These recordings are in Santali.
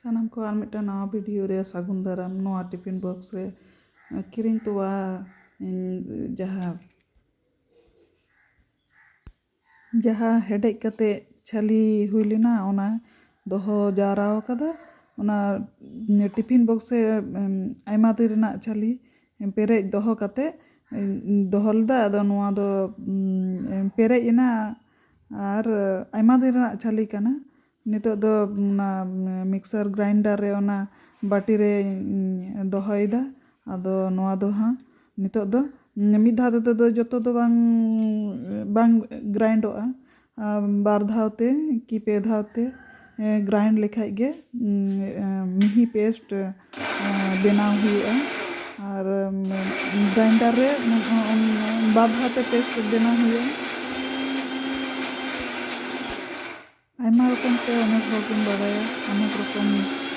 ᱥᱟᱱᱟᱢ ᱠᱚ ᱟᱨ ᱢᱤᱫᱴᱟᱝ ᱱᱟᱣᱟ ᱵᱷᱤᱰᱤᱭᱳ ᱨᱮ ᱥᱟᱹᱜᱩᱱ ᱫᱟᱨᱟᱢ ᱱᱚᱣᱟ ᱴᱤᱯᱷᱤᱱ ᱵᱚᱠᱥ ᱨᱮ ᱠᱤᱨᱤᱧ ᱛᱚᱣᱟ ᱡᱟᱦᱟᱸ ᱡᱟᱦᱟᱸ ᱦᱮᱰᱮᱡ ᱠᱟᱛᱮ ᱪᱷᱟᱹᱞᱤ ᱦᱩᱭ ᱞᱮᱱᱟ ᱚᱱᱟ ᱫᱚᱦᱚ ᱡᱟᱣᱨᱟ ᱟᱠᱟᱫᱟ ᱚᱱᱟ ᱴᱤᱯᱷᱤᱱ ᱵᱚᱠᱥ ᱨᱮ ᱟᱭᱢᱟ ᱫᱤᱱ ᱨᱮᱱᱟᱜ ᱪᱷᱟᱹᱞᱤ ᱯᱮᱨᱮᱡ ᱫᱚᱦᱚ ᱠᱟᱛᱮᱫ ᱫᱚᱦᱚ ᱞᱮᱫᱟ ᱟᱫᱚ ᱱᱚᱣᱟ ᱫᱚ ᱯᱮᱨᱮᱡ ᱮᱱᱟ ᱟᱨ ᱟᱭᱢᱟ ᱫᱤᱱ ᱨᱮᱱᱟᱜ ᱪᱷᱟᱹᱞᱤ ᱠᱟᱱᱟ ᱱᱤᱛᱚᱜ ᱫᱚ ᱚᱱᱟ ᱢᱤᱠᱥᱪᱟᱨ ᱜᱨᱟᱭᱤᱱᱰᱟᱨ ᱨᱮ ᱚᱱᱟ ᱵᱟᱹᱴᱤ ᱨᱮᱧ ᱫᱚᱦᱚᱭᱮᱫᱟ ᱟᱫᱚ ᱱᱚᱣᱟ ᱫᱚ ᱦᱟᱸᱜ ᱱᱤᱛᱚᱜ ᱫᱚ ᱢᱤᱫ ᱫᱷᱟᱣ ᱛᱮᱫᱚ ᱡᱚᱛᱚ ᱫᱚ ᱵᱟᱝ ᱵᱟᱝ ᱜᱨᱟᱭᱤᱱᱰᱚᱜᱼᱟ ᱵᱟᱨ ᱫᱷᱟᱣ ᱛᱮ ᱠᱤ ᱯᱮ ᱫᱷᱟᱣ ᱛᱮ ᱜᱨᱟᱭᱤᱱᱰ ᱞᱮᱠᱷᱟᱱ ᱜᱮ ᱢᱤᱦᱤ ᱯᱮᱥᱴ ᱵᱮᱱᱟᱣ ᱦᱩᱭᱩᱜᱼᱟ ᱟᱨ ᱜᱨᱟᱭᱤᱱᱰᱟᱨ ᱨᱮ ᱵᱟᱨ ᱫᱷᱟᱣ ᱛᱮ ᱯᱮᱥᱴ ᱵᱮᱱᱟᱣ ᱦᱩᱭᱩᱜᱼᱟ ᱟᱭᱢᱟ ᱨᱚᱠᱚᱢ ᱛᱮ ᱚᱱᱮᱠ ᱦᱚᱲ ᱵᱚᱱ ᱵᱟᱲᱟᱭᱟ ᱚᱱᱮᱠ ᱨᱚᱠᱚᱢ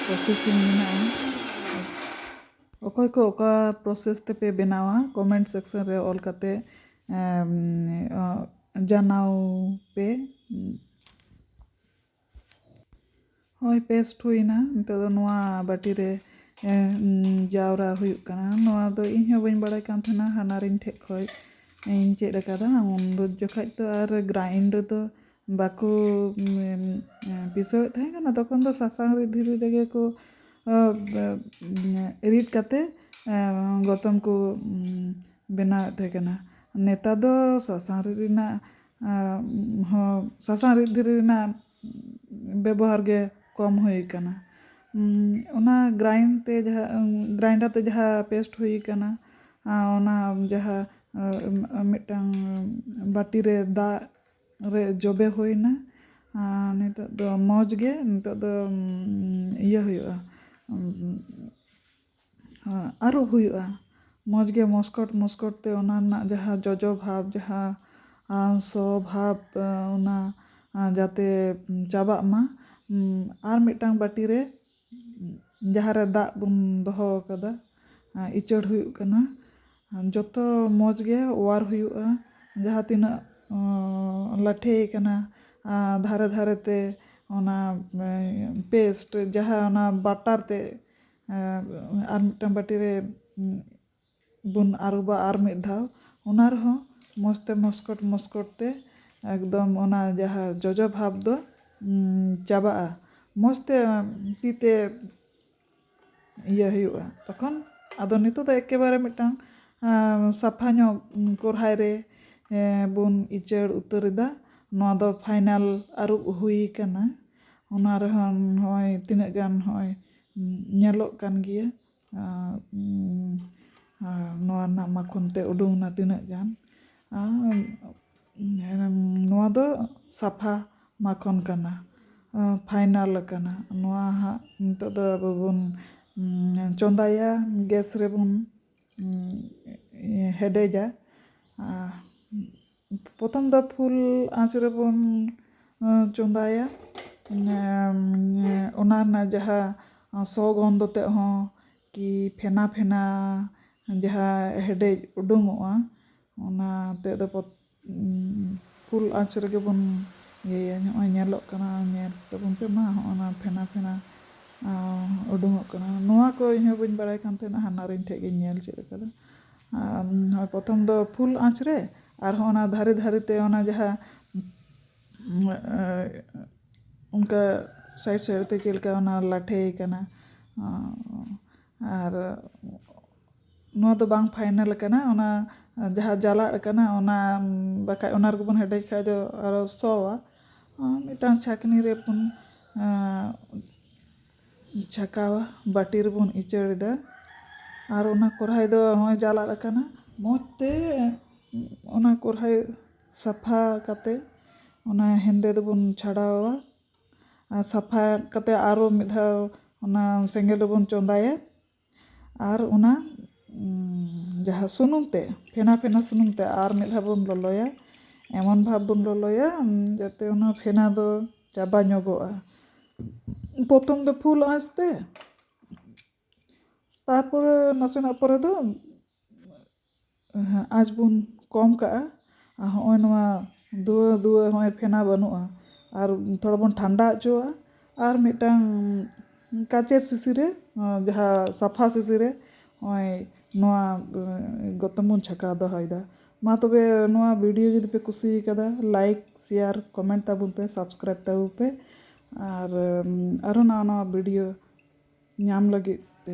ᱯᱨᱚᱥᱮᱥᱤᱝ ᱢᱮᱱᱟᱜᱼᱟ ᱚᱠᱚᱭ ᱠᱚ ᱚᱠᱟ ᱯᱨᱚᱥᱮᱥ ᱛᱮᱯᱮ ᱵᱮᱱᱟᱣᱟ ᱠᱚᱢᱮᱱᱴ ᱥᱮᱠᱥᱮᱱ ᱨᱮ ᱚᱞ ᱠᱟᱛᱮᱫ ᱡᱟᱱᱟᱣ ᱯᱮ ᱦᱚᱭ ᱯᱮᱥᱴ ᱦᱩᱭᱱᱟ ᱱᱤᱛᱚᱜ ᱫᱚ ᱱᱚᱣᱟ ᱵᱟᱹᱴᱤ ᱨᱮ ᱡᱟᱣᱨᱟ ᱦᱩᱭᱩᱜ ᱠᱟᱱᱟ ᱱᱚᱣᱟ ᱫᱚ ᱤᱧ ᱦᱚᱸ ᱵᱟᱹᱧ ᱵᱟᱲᱟᱭ ᱠᱟᱱ ᱛᱟᱦᱮᱱᱟ ᱦᱟᱱᱦᱟᱨᱤᱧ ᱴᱷᱮᱡ ᱠᱷᱚᱡ ᱤᱧ ᱪᱮᱫ ᱟᱠᱟᱫᱟ ᱩᱱ ᱡᱚᱠᱷᱟᱡ ᱫᱚ ᱟᱨ ᱜᱨᱟᱭᱤᱱᱰ ᱫᱚ ᱵᱟᱠᱚ ᱯᱤᱥᱟᱹᱣᱮᱫ ᱛᱟᱦᱮᱸ ᱠᱟᱱᱟ ᱛᱚᱠᱷᱚᱱ ᱫᱚ ᱥᱟᱥᱟᱝ ᱨᱤᱫ ᱫᱷᱤᱨᱤ ᱨᱮᱜᱮ ᱠᱚ ᱨᱤᱫ ᱠᱟᱛᱮ ᱜᱚᱛᱚᱢ ᱠᱚ ᱵᱮᱱᱟᱣᱮᱫ ᱛᱟᱦᱮᱸ ᱠᱟᱱᱟ ᱱᱮᱛᱟᱨ ᱫᱚ ᱥᱟᱥᱟᱝ ᱨᱤᱫ ᱨᱮᱱᱟᱜ ᱦᱚᱸ ᱥᱟᱥᱟᱝ ᱨᱤᱫ ᱫᱷᱤᱨᱤ ᱨᱮᱱᱟᱜ ᱵᱮᱵᱚᱦᱟᱨ ᱜᱮ ᱠᱚᱢ ᱦᱩᱭ ᱟᱠᱟᱱᱟ ᱚᱱᱟ ᱜᱨᱟᱭᱤᱱ ᱛᱮ ᱡᱟᱦᱟᱸ ᱜᱨᱟᱭᱤᱱᱰᱟᱨ ᱛᱮ ᱡᱟᱦᱟᱸ ᱯᱮᱥᱴ ᱦᱩᱭ ᱟᱠᱟᱱᱟ ᱚᱱᱟ ᱡᱟᱦᱟᱸ ᱢᱤᱫᱴᱟᱝ ᱵᱟᱹᱴᱤᱨᱮ ᱫᱟᱜ ᱨᱮ ᱡᱚᱵᱮ ᱦᱩᱭᱮᱱᱟ ᱟᱨ ᱱᱤᱛᱚᱜ ᱫᱚ ᱢᱚᱡᱽ ᱜᱮ ᱱᱤᱛᱚᱜ ᱫᱚ ᱤᱭᱟᱹ ᱦᱩᱭᱩᱜᱼᱟ ᱟᱹᱨᱩᱵ ᱦᱩᱭᱩᱜᱼᱟ ᱢᱚᱡᱽ ᱜᱮ ᱢᱚᱥᱠᱚᱴ ᱢᱚᱥᱠᱚᱴ ᱛᱮ ᱚᱱᱟ ᱨᱮᱱᱟᱜ ᱡᱟᱦᱟᱸ ᱡᱚᱡᱚ ᱵᱷᱟᱵᱽ ᱡᱟᱦᱟᱸ ᱟᱨ ᱥᱚ ᱵᱷᱟᱵᱽ ᱚᱱᱟ ᱡᱟᱛᱮ ᱪᱟᱵᱟᱜ ᱢᱟ ᱟᱨ ᱢᱤᱫᱴᱟᱝ ᱵᱟᱹᱴᱤᱨᱮ ᱡᱟᱦᱟᱸ ᱨᱮ ᱫᱟᱜ ᱵᱚᱱ ᱫᱚᱦᱚ ᱟᱠᱟᱫᱟ ᱤᱪᱟᱹᱲ ᱦᱩᱭᱩᱜ ᱠᱟᱱᱟ ᱡᱚᱛᱚ ᱢᱚᱡᱽ ᱜᱮ ᱚᱣᱟᱨ ᱦᱩᱭᱩᱜᱼᱟ ᱡᱟᱦᱟᱸ ᱛᱤᱱᱟᱹᱜ ᱞᱟᱴᱷᱮ ᱟᱠᱟᱱᱟ ᱫᱷᱟᱨᱮ ᱫᱷᱟᱨᱮ ᱛᱮ ᱚᱱᱟ ᱯᱮᱥᱴ ᱡᱟᱦᱟᱸ ᱚᱱᱟ ᱵᱟᱴᱟᱨ ᱛᱮ ᱟᱨ ᱢᱤᱫᱴᱟᱝ ᱵᱟᱹᱴᱤ ᱨᱮ ᱵᱚᱱ ᱟᱹᱨᱩᱵᱟ ᱟᱨ ᱢᱤᱫ ᱫᱷᱟᱣ ᱚᱱᱟ ᱨᱮᱦᱚᱸ ᱢᱚᱡᱽ ᱛᱮ ᱢᱚᱥᱠᱚᱴ ᱢᱚᱥᱠᱚᱴ ᱛᱮ ᱮᱠᱫᱚᱢ ᱚᱱᱟ ᱡᱟᱦᱟᱸ ᱡᱚᱡᱚ ᱵᱷᱟᱵᱽ ᱫᱚ ᱪᱟᱵᱟᱜᱼᱟ ᱢᱚᱡᱽ ᱛᱮ ᱛᱤ ᱛᱮ ᱤᱭᱟᱹ ᱦᱩᱭᱩᱜᱼᱟ ᱛᱚᱠᱷᱚᱱ ᱟᱫᱚ ᱱᱤᱛᱚᱜ ᱫᱚ ᱮᱠᱮᱵᱟᱨᱮ ᱢᱤᱫᱴᱟᱝ ᱥᱟᱯᱷᱟ ᱧᱚᱜ ᱠᱚᱨᱦᱟᱭ ᱨᱮ ᱵᱚᱱ ᱤᱪᱟᱹᱲ ᱩᱛᱟᱹᱨ ᱮᱫᱟ ᱱᱚᱣᱟ ᱫᱚ ᱯᱷᱟᱭᱱᱟᱞ ᱟᱹᱨᱩᱵ ᱦᱩᱭ ᱠᱟᱱᱟ ᱚᱱᱟ ᱨᱮᱦᱚᱸ ᱱᱚᱜᱼᱚᱭ ᱛᱤᱱᱟᱹᱜ ᱜᱟᱱ ᱱᱚᱜᱼᱚᱭ ᱧᱮᱞᱚᱜ ᱠᱟᱱ ᱜᱮᱭᱟ ᱟᱨ ᱱᱚᱣᱟ ᱨᱮᱱᱟᱜ ᱢᱟᱠᱷᱚᱱ ᱛᱮᱫ ᱩᱰᱩᱠ ᱮᱱᱟ ᱛᱤᱱᱟᱹᱜ ᱜᱟᱱ ᱟᱨ ᱱᱚᱣᱟ ᱫᱚ ᱥᱟᱯᱷᱟ ᱢᱟᱠᱷᱚᱱ ᱠᱟᱱᱟ ᱯᱷᱟᱭᱱᱟᱞ ᱟᱠᱟᱱᱟ ᱱᱚᱣᱟ ᱦᱟᱸᱜ ᱱᱤᱛᱚᱜ ᱫᱚ ᱟᱵᱚ ᱵᱚᱱ ᱪᱚᱸᱫᱟᱭᱟ ᱜᱮᱥ ᱨᱮᱵᱚᱱ ᱦᱮᱰᱮᱡᱟ ᱟᱨ ᱯᱨᱚᱛᱷᱚᱢ ᱫᱚ ᱯᱷᱩᱞ ᱟᱸᱪ ᱨᱮᱵᱚᱱ ᱪᱚᱸᱫᱟᱭᱟ ᱚᱱᱟ ᱨᱮᱱᱟᱜ ᱡᱟᱦᱟᱸ ᱥᱚ ᱜᱚᱱᱫᱷᱚ ᱛᱮᱫ ᱦᱚᱸ ᱠᱤ ᱯᱷᱮᱱᱟ ᱯᱷᱮᱱᱟ ᱡᱟᱦᱟᱸ ᱦᱮᱰᱮᱡ ᱩᱰᱩᱠᱚᱜᱼᱟ ᱚᱱᱟ ᱛᱮᱫ ᱫᱚ ᱯᱷᱩᱞ ᱟᱸᱪ ᱨᱮᱜᱮ ᱵᱚᱱ ᱤᱭᱟᱹᱭᱟ ᱱᱚᱜᱼᱚᱭ ᱧᱮᱞᱚᱜ ᱠᱟᱱᱟ ᱧᱮᱞ ᱛᱟᱵᱚᱱ ᱯᱮ ᱢᱟ ᱱᱚᱜᱼᱚ ᱱᱟ ᱯᱷᱮᱱᱟ ᱯᱷᱮᱱᱟ ᱩᱰᱩᱠᱚᱜ ᱠᱟᱱᱟ ᱱᱚᱣᱟ ᱠᱚ ᱤᱧ ᱦᱚᱸ ᱵᱟᱹᱧ ᱵᱟᱲᱟᱭ ᱠᱟᱱ ᱛᱟᱦᱮᱱᱟ ᱦᱟᱱᱦᱟᱨᱤᱧ ᱴᱷᱮᱱ ᱜᱤᱧ ᱧᱮᱞ ᱪᱮᱫ ᱠᱟᱫᱟ ᱟᱨ ᱯᱨᱚᱛᱷᱚᱢ ᱫᱚ ᱯᱷᱩᱞ ᱟᱸᱪ ᱨᱮ ᱟᱨ ᱦᱚᱸ ᱚᱱᱟ ᱫᱷᱟᱨᱮ ᱫᱷᱟᱨᱮ ᱛᱮ ᱚᱱᱟ ᱡᱟᱦᱟᱸ ᱚᱱᱠᱟ ᱥᱟᱭᱤᱰ ᱥᱟᱭᱤᱰ ᱛᱮ ᱪᱮᱫ ᱞᱮᱠᱟ ᱚᱱᱟ ᱞᱟᱴᱷᱮ ᱠᱟᱱᱟ ᱟᱨ ᱱᱚᱣᱟ ᱫᱚ ᱵᱟᱝ ᱯᱷᱟᱭᱱᱮᱞ ᱠᱟᱱᱟ ᱚᱱᱟ ᱡᱟᱦᱟᱸ ᱡᱟᱞᱟᱜ ᱠᱟᱱᱟ ᱚᱱᱟ ᱵᱟᱠᱷᱟᱡ ᱚᱱᱟ ᱨᱮᱜᱮ ᱵᱚᱱ ᱦᱮᱰᱮᱡ ᱠᱷᱟᱡ ᱫᱚ ᱟᱨᱚ ᱥᱚᱣᱟ ᱢᱤᱫᱴᱟᱝ ᱪᱷᱟᱠᱱᱤ ᱨᱮ ᱯᱩᱱ ᱪᱷᱟᱠᱟᱣᱟ ᱵᱟᱹᱴᱤ ᱨᱮᱵᱚᱱ ᱤᱪᱟᱹᱲ ᱮᱫᱟ ᱟᱨ ᱚᱱᱟ ᱠᱚᱨᱦᱟᱭ ᱫᱚ ᱦᱚᱸᱜᱼᱚᱭ ᱡᱟᱞᱟᱫ ᱟᱠᱟᱱᱟ ᱢᱚᱡᱽ ᱛᱮ ᱚᱱᱟ ᱠᱚᱨᱦᱟᱭ ᱥᱟᱯᱷᱟ ᱠᱟᱛᱮ ᱚᱱᱟ ᱦᱮᱸᱫᱮ ᱫᱚᱵᱚᱱ ᱪᱷᱟᱰᱟᱣᱟ ᱟᱨ ᱥᱟᱯᱷᱟ ᱠᱟᱛᱮ ᱟᱨᱚ ᱢᱤᱫ ᱫᱷᱟᱣ ᱚᱱᱟ ᱥᱮᱸᱜᱮᱞ ᱨᱮᱵᱚᱱ ᱪᱚᱸᱫᱟᱭᱟ ᱟᱨ ᱚᱱᱟ ᱡᱟᱦᱟᱸ ᱥᱩᱱᱩᱢ ᱛᱮ ᱯᱷᱮᱱᱟ ᱯᱷᱮᱱᱟ ᱥᱩᱱᱩᱢ ᱛᱮ ᱟᱨ ᱢᱤᱫ ᱫᱷᱟᱣ ᱵᱚᱱ ᱞᱚᱞᱚᱭᱟ ᱮᱢᱚᱱ ᱵᱷᱟᱵᱽ ᱵᱚᱱ ᱞᱚᱞᱚᱭᱟ ᱡᱟᱛᱮ ᱚᱱᱟ ᱯᱷᱮᱱᱟ ᱫᱚ ᱪᱟᱵᱟ ᱧᱚᱜᱚᱜᱼᱟ ᱯᱨᱚᱛᱷᱚᱢ ᱫᱚ ᱯᱷᱩᱞ ᱟᱸᱪ ᱛᱮ ᱛᱟᱨᱯᱚᱨᱮ ᱱᱟᱥᱮᱱᱟᱜ ᱯᱚᱨᱮ ᱫᱚ ᱟᱸᱪ ᱵᱚᱱ ᱠᱚᱢ ᱠᱟᱜᱼᱟ ᱟᱨ ᱦᱚᱸᱜᱼᱚᱭ ᱱᱚᱣᱟ ᱫᱷᱩᱣᱟᱹ ᱫᱷᱩᱣᱟᱹ ᱦᱚᱸᱜᱼᱚᱭ ᱯᱷᱮᱱᱟ ᱵᱟᱹᱱᱩᱜᱼᱟ ᱟᱨ ᱛᱷᱚᱲᱟ ᱵᱚᱱ ᱴᱷᱟᱱᱰᱟ ᱦᱚᱪᱚᱣᱟᱜᱼᱟ ᱟᱨ ᱢᱤᱫᱴᱟᱝ ᱠᱟᱸᱪᱮᱨ ᱥᱤᱥᱤ ᱨᱮ ᱡᱟᱦᱟᱸ ᱥᱟᱯᱷᱟ ᱥᱤᱥᱤ ᱨᱮ ᱦᱚᱸᱜᱼᱚᱭ ᱱᱚᱣᱟ ᱜᱚᱛᱚᱢ ᱵᱚᱱ ᱪᱷᱟᱠᱟᱣ ᱫᱚᱦᱚᱭᱮᱫᱟ ᱢᱟ ᱛᱚᱵᱮ ᱱᱚᱣᱟ ᱵᱷᱤᱰᱤᱭᱳ ᱡᱩᱫᱤ ᱯᱮ ᱠᱩᱥᱤᱭᱟᱠᱟᱫᱟ ᱞᱟᱭᱤᱠ ᱥᱮᱭᱟᱨ ᱠᱚᱢᱮᱱᱴ ᱛᱟᱵᱚᱱ ᱯᱮ ᱥᱟᱵᱥᱠᱨᱟᱭᱤᱵᱽ ᱛᱟᱵᱚᱱ ᱯᱮ ᱟᱨ ᱟᱨᱚ ᱱᱟᱣᱟ ᱱᱟᱣᱟ ᱵᱷᱤᱰᱤᱭᱳ ᱧᱟᱢ ᱞᱟᱹᱜᱤᱫ ᱛᱮ